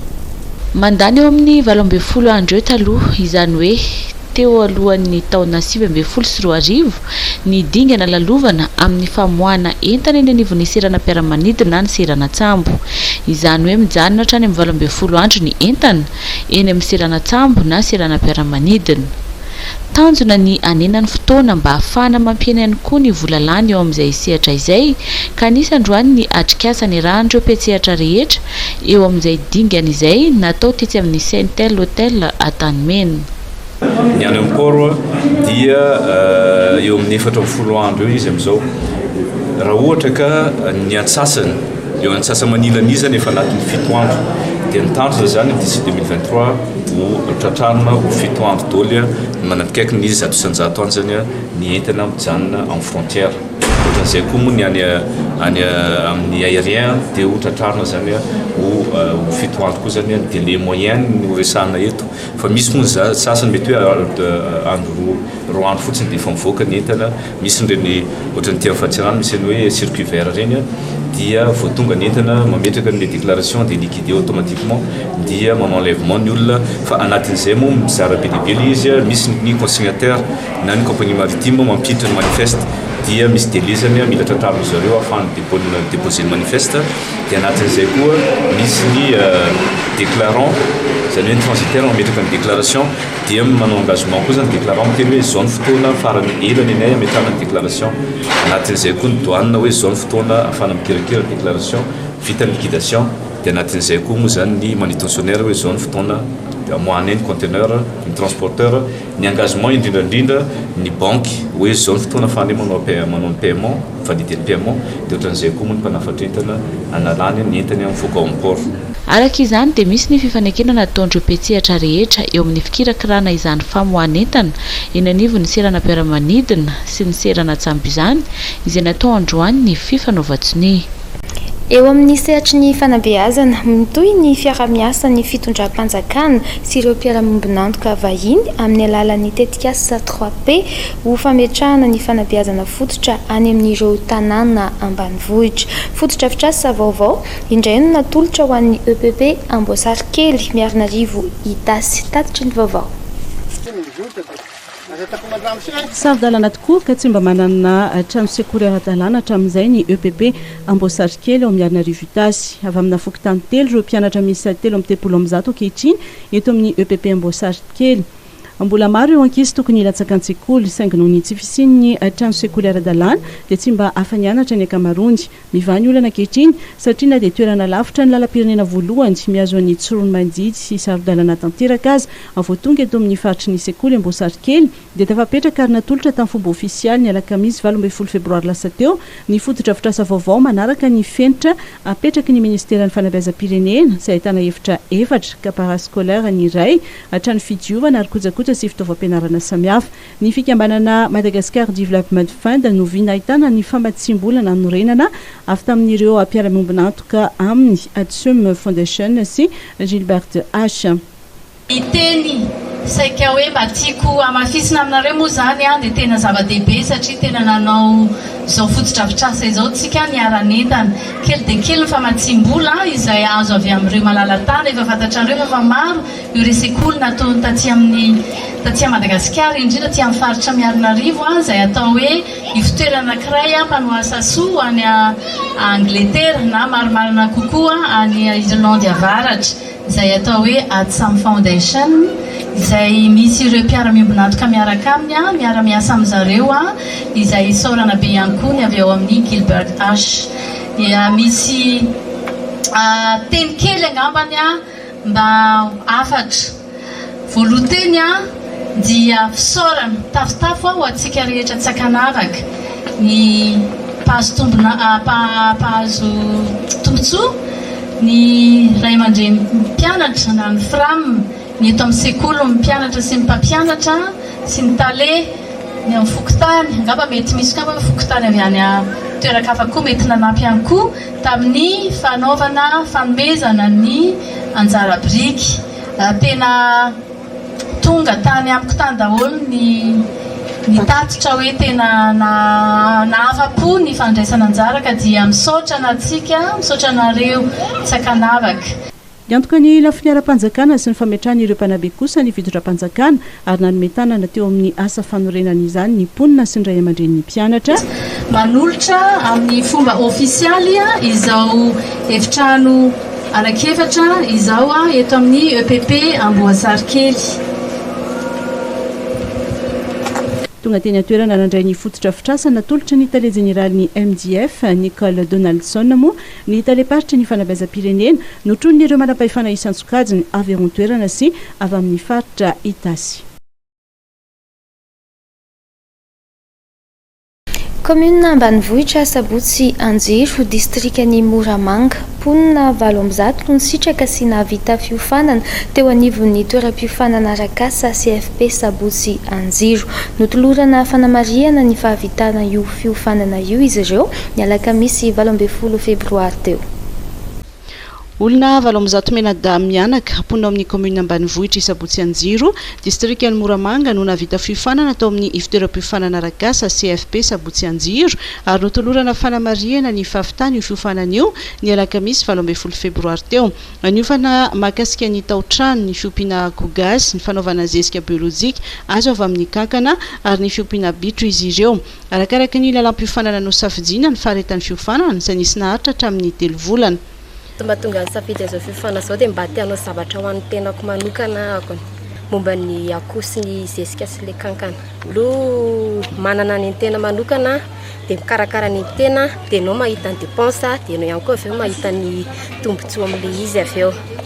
Mandany eo amin'ny valo ambin'ny folo andro eo taloha, izany hoe Teo alohan'ny taona sivy ambin'ny folo sy roa arivo, ny dingana lalovana amin'ny famoahana entana eny anivon'ny seranam-piaramanidina na ny seranan-tsambo. Izany hoe mijanona hatrany amin'ny valo ambin'ny folo andro ny entana, eny amin'ny seranan-tsambo na seranam-piaramanidina. Tanjona ny hanena ny fotoana mba hahafahana mampihena ihany koa ny vola lany eo amin'izay sehatra izay, ka anisan-droany ny atrikasa nirahan'ireo mpiantsehatra rehetra Eo amin'izay dingana izay, natao tetsy amin'ny Saintel Hotel Antanimena. Ny any amin'ny Port dia eo amin'ny efatra ambin'ny folo andro eo izy amin'izao. Raha ohatra ka ny antsasany, eo antsasa-manilanizany efa anatin'ny fito andro. Dia ny tanjona izany d'ici deux mille vingt-trois ho tratrarina ho fito andro daholo ny manakaiky ny zato isan-jato anjany ny entana mijanona amin'ny frontière. Ohatra zay koa moa ny any any amin'ny aérien dia ho tratrarina zany ho ho fito andro koa zany délai moyen no resahana eto fa misy moa za sasany mety hoe andro roa roa andro fotsiny dia efa mivoaka ny entana misy ireny ohatra ny ity Afatsirano misy ny hoe circuit vert ireny dia vao tonga ny entana mametraka ny déclaration dia liquide automatiquement dia manao enlèvement ny olona fa anatin'izay moa mizara be dia be ilay izy misy ny consignataire na ny compagnie maritime mampiditra ny manifeste dia misy delezany mila tratrariny zareo afahany depôny deposer ny manifeste dia anatin'izay koa misy ny déclarant izany hoe ny transitaire mametraka ny déclaration dia manao engagement koa zany déclarant miteny hoe izao ny fotoana farany ela ny anay ametrahana ny déclaration anatin'izay koa ny douane hoe izao ny fotoana afahana mikirakira déclaration vita ny liquidation dia anatin'izay koa moa zany ny manutentionnaire hoe izao ny fotoana amoahanay ny conteneur ny transporteur Ny engagement indrindra indrindra ny banky hoe zao ny fotoana fane manao manao ny paiement mifandidy ny paiement de otran'izay koa moa ny mpanafatra entana analany ny entany mivoaka ao amin'ny port. Araka izany dia misy ny fifanekena nataon'ireo mpiantsehatra rehetra eo amin'ny fikirakirana izany famoahan'entana eny anivon'ny seranam-piaramanidina sy ny seranan-tsambo izany izay natao androany ny fifanaovan-tsonia. Eo amin'ny sehatry ny fanabeazana, mitohy ny fiaraha-miasan'ny fitondram-panjakana sy ireo mpiara-miombon'antoka vahiny amin'ny alalan'ny tetikasa Trois P ho fametrahana ny fanabeazana fototra any amin'ireo tanàna ambanivohitra. Fotodrafitrasa vaovao indray no natolotra ho an'ny EPP Amboasarikely, Miarinarivo, Itasy. Tatitra ny vaovao. Saro-dalàna tokoa ka tsy mba manana trano sekoly ara-dalàna hatramin'izay ny EPP Amboasarikely ao amin'ny Arinarivo Itasy. Avy amina fokontany telo ireo mpianatra miisa telo amby telopolo amby zato ankehitriny eto amin'ny EPP Amboasarikely. Mbola maro ireo ankizy tokony hilatsaka an-tsekoly saingy noho ny tsy fisian'ny trano sekoly ara-dalàna dia tsy mba afa-nianatra ny ankamaroany. Mivaha ny olana ankehitriny satria na dia toerana lavitra ny lalam-pirenena voalohany mihazo an'i Tsiroanomandidy sy saro-dalana tanteraka aza, vao tonga eto amin'ny faritry ny sekoly Amboasarikely dia tafapetraka ary natolotra tamin'ny fomba ofisialy ny alakamisy valo ambin'ny folo febroary lasa teo ny fotodrafitrasa vaovao manaraka ny fenitra apetraky ny ministeran'ny fanabeazam-pirenena izay ahitana efitra efatra ka parascolaire ny iray hatrany fidiovana ary kojakoja sy fitaovam-pianarana samihafa. Ny fikambanana Madagascar Development Fund no vy nahitana ny famatsiam-bola nanorenana avy tamin'ireo mpiara-miombon'antoka aminy, Atsum Foundation sy Gilbert H. Ny teny saika hoe mba tiako hamafisina aminareo moa izany dia tena zava-dehibe satria tena nanao izao fotodrafitrasa izao isika niara-nentana. Kely dia kely ny famatsiam-bola izay azo avy amin'ireo malala-tana, efa fantatrareo moa fa maro Ny resekoly nataony taty amin'ny taty Madagasikara, indrindra aty amin'ny faritra Miarinarivo, izay atao hoe ivotoerana anankiray mpanoha asa soa any Angletera na marimarina kokoa any Irlandy Avaratra, izay atao hoe Adsum Foundation, izay misy ireo mpiara-miombon'antoka miaraka aminy, miara-miasa amin-dry zareo, izay isaorana be ihany koa ny avy ao amin'ny Gilbert Ash. Dia misy teny kely angambany Mba ho hafatra. Voalohan-teny a dia fisaorana tafotafo aho ho antsika rehetra tsy ankanavaka, ny mpahazo tombona, mpahazo tombontsoa, ny ray aman-dreny mpianatra na ny Fram, ny eto amin'ny sekoly, ny mpianatra sy ny mpampianatra sy ny tale, ny amin'ny fokontany, angamba mety misy koa angamba fokontany avy any toeran-kafa koa mety nanampy ihany koa. Tamin'ny fanaovana fanomezana ny anjara biriky, tena tonga tany amiko tany daholo ny ny tatitra hoe tena nahafa-po ny fandraisana anjara ka dia misaotra antsika, misaotra anareo tsy an-kanavaka. Niantoka ny lafiny ara-panjakana sy ny fametrahana ireo mpanabe kosa ny fitondram-panjakana ary nanome tanana teo amin'ny asa fanorenana izany ny mponina sy ny ray aman-drenin'ny mpianatra. Manolotra amin'ny fomba ofisialy izao efitrano anankiefatra izao eto amin'ny EPP Amboasarikely. Tonga teny an-toerana nandray ny fotodrafitrasa natolotry ny tale jeneralin'ny MJF, Nicole Donaldson moa Ny talem-paritry ny fanabeazam-pirenena no tronin'ireo manam-pahefana isan-tsokajiny avy ao an-toerana sy avy amin'ny faritra Itasy. Kaominina ambanivohitra Asabotsy Anjiro, distrikan'i Moramanga. Mponina valo amby zato no nisitraka sy nahavita fiofanana teo anivon'ny toeram-piofanana Arakasa CFP Sabotsy Anjiro. Notolorana fanamarihana ny fahavitana io fiofanana io izy ireo ny alakamisy valo ambin'ny folo febroary teo. Olona valo amby zato mianadahy mianaka, mponina ao amin'ny kaominina ambanivohitr'i Sabotsianjiro, distrikan'i Moramanga no nahavita fiofanana tao amin'ny Ivotoeram-piofanana Arakasa, CFP, Sabotsianjiro ary notolorana fanamarihana ny fahavitany io fiofanana io ny alakamisy valo ambin'ny folo febroary teo. Niofana mahakasika ny tao-trano, ny fiompiana akoho gasy, ny fanaovana zezika biolojika azo avy amin'ny kankana ary ny fiompiana bitro izy ireo. Arakaraky ny lalam-piofanana nosafidiana ny faharetan'ny fiofanana, izay nisy naharitra hatramin'ny telo volana. Tsy mba tonga nisafidy an'izao fiofanana izao dia mba te hanao zavatra ho an'ny tenako manokana aho, momba ny akoho sy ny zezika sy ilay kankana. Aloha manana ny an'ny tena manokana dia mikarakara ny an'ny tena dia ianao mahita ny dépense dia ianao ihany koa avy eo mahita ny tombontsoa amin'ilay izy avy eo.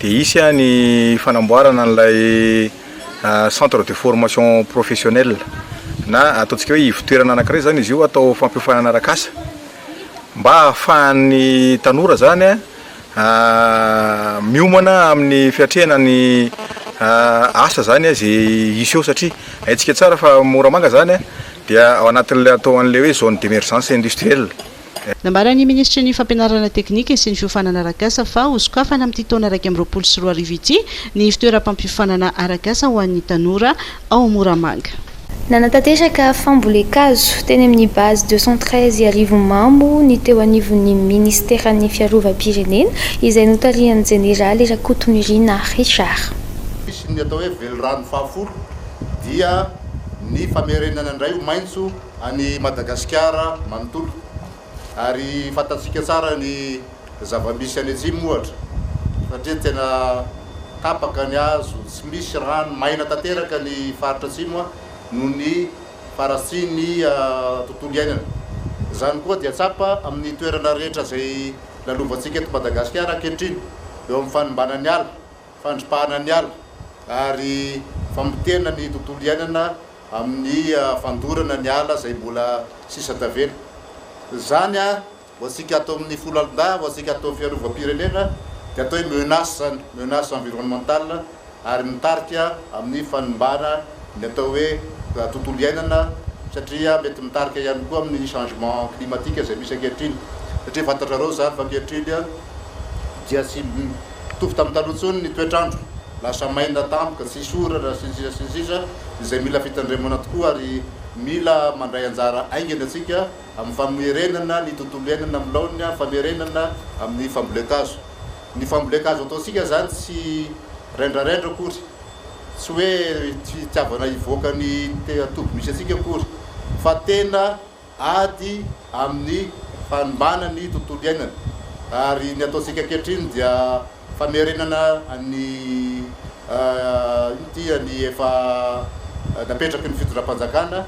Dia hisy ny fanamboarana an'ilay centre de formation professionnelle na ataontsika hoe ivon-toerana anankiray izany izy io atao fampiofanana arak'asa mba hahafahan'ny tanora izany miomana amin'ny fiatrehana ny asa izany izay hisy eo satria haintsika tsara fa Moramanga izany dia ao anatin'ilay atao an'ilay hoe zone d'emergence industrielle. Nambaran'ny minisitry ny Fampianarana teknika sy ny fiofanana arak'asa fa ho sokafana amin'ity taona iraika amby roapolo sy roa arivo ity ny fitoeram-pampiofanana arak'asa ho an'ny tanora ao Moramanga. Nanatanteraka fambolen-kazo teny amin'ny Base deux cent treize Iarivomamo ny teo anivon'ny minisiteran'ny Fiarovam-pirenena, izay notarihan'ny jeneraly Rakotonirina Richard. Ny atao hoe velirano fahafolo dia ny famerenana indray ho maitso. any Madagasikara manontolo ary fantatsika tsara ny zava-misy any atsimo ohatra satria tena tapaka ny hazo, tsy misy rano, maina tanteraka ny faritra atsimo noho ny faharatsian'ny tontolo iainana. Izany koa dia tsapa amin'ny toerana rehetra izay lalovantsika eto Madagasikara ankehitriny eo amin'ny fanimbana ny ala, fandripahana ny ala ary famotehana ny tontolo iainana. amin'ny fandorana ny ala izay mbola sisa tavela. Izany ho antsika ato amin'ny folo alin-dahy, ho antsika ato amin'ny fiarovam-pirenena dia atao hoe menace izany, menace environnementale ary mitarika amin'ny fanimbana ny atao hoe tontolo iainana satria mety mitarika ihany koa amin'ny changement climatique izay misy ankehitriny satria fantatrareo izany fa ankehitriny dia tsy mitovy tamin'ny taloha intsony ny toetr'andro, lasa maina tampoka, tsisy orana, sy ny sisa sy ny sisa, izay mila fitandremana tokoa ary mila mandray anjara aingana isika amin'ny famerenana ny tontolo iainana amin'ny laoniny, amin'ny famerenana amin'ny fambolen-kazo. Ny fambolen-kazo ataontsika izany tsy rendrarendra akory, tsy hoe fitiavana hivoaka ny toby misy antsika akory, fa tena. ady amin'ny fanimbàna ny tontolo iainana ary ny ataontsika ankehitriny dia famerenana ny inona ity ny efa napetraky ny fitondram-panjakana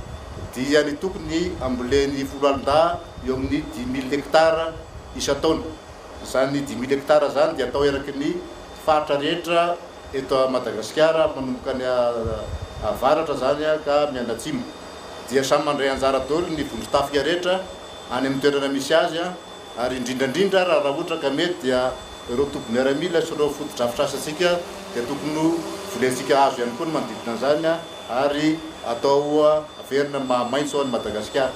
dia ny tokony hambolen'ny foloalindahy eo amin'ny dix mille hectares isan-taona. Izany dix mille hectares izany dia atao eraky ny faritra rehetra eto Madagasikara manomboka any avaratra izany ka mianatsimo. dia samy mandray anjara daholo ny vondron-tafika rehetra any amin'ny toerana misy azy ary indrindra indrindra ary raha ohatra ka mety dia ireo toby miaramila sy ireo fotodrafitrasantsika dia tokony ho volentsika hazo ihany koa ny manodidina an'izany ary atao averina ny maha maitso an'i Madagasikara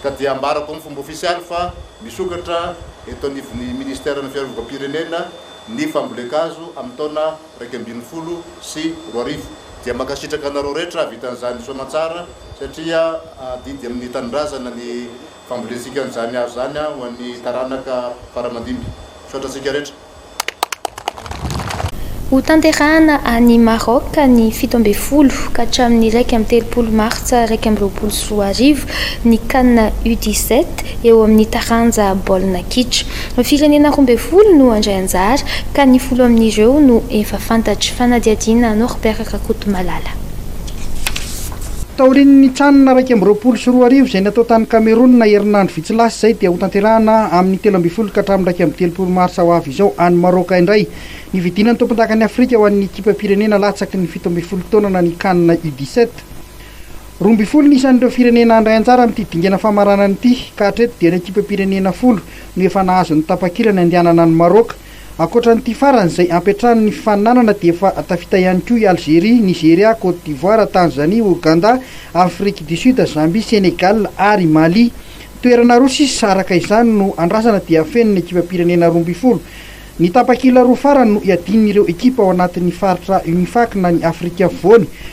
ka dia ambarako amin'ny fomba ofisialy fa misokatra eto anivon'ny ministeran'ny fiarovampirenena ny fambolen-kazo amin'ny taona iraika ambin'ny folo sy roa arivo dia mankasitraka anareo rehetra havitan'izany soamantsara satria adidy amin'ny tanindrazana ny fambolentsika an'izany hazo izany ho an'ny taranaka faramandimby. Misaotra antsika rehetra. Ho tanterahana any Maroc ny fito ambin'ny folo ka hatramin'ny iraika amby telopolo martsa iraika amby roapolo sy roa arivo ny can U dix-sept eo amin'ny taranja baolina kitra. Firenena roa ambin'ny folo no handray anjara, ka ny folo amin'ireo no efa fantatra. Fanadihadiana Norbert Rakotomalala. Taorian'ny nitsanana iraika amby roapolo sy roa arivo izay natao tany Kamerona herinandro vitsy lasa izay dia hotanterahina amin'ny telo ambin'ny folo ka hatramin'ny iraika amby telopolo marsa ho avy izao any Maraoka indray ny fidiana ny tompondakan'i Afrika ho an'ny ekipam-pirenena latsaky ny fito ambin'ny folo taonana ny Can U dix-sept. Roa ambin'ny folo ny isan'ireo firenena handray anjara amin'ity dingana famaranana ity ka hatreto dia ny ekipam-pirenena folo no efa nahazo ny tapakila ny handehanana any Maroc. Ankoatra an'ity farany izay hampiantrano ny fifaninanana dia efa tafita ihany koa i Algerie, Nigeria, Côte d'Ivoire, Tanzanie, Ouganda, Afrique du Sud, Zambie, Sénégal ary Mali. Toerana roa sisa araka izany no andrasana dia hafenin'ny ekipam-pirenena roa ambin'ny folo. Ny tapakila roa farany no hiadian'ireo ekipa ao anatin'ny faritra Unifac na ny Afrika Afovoany.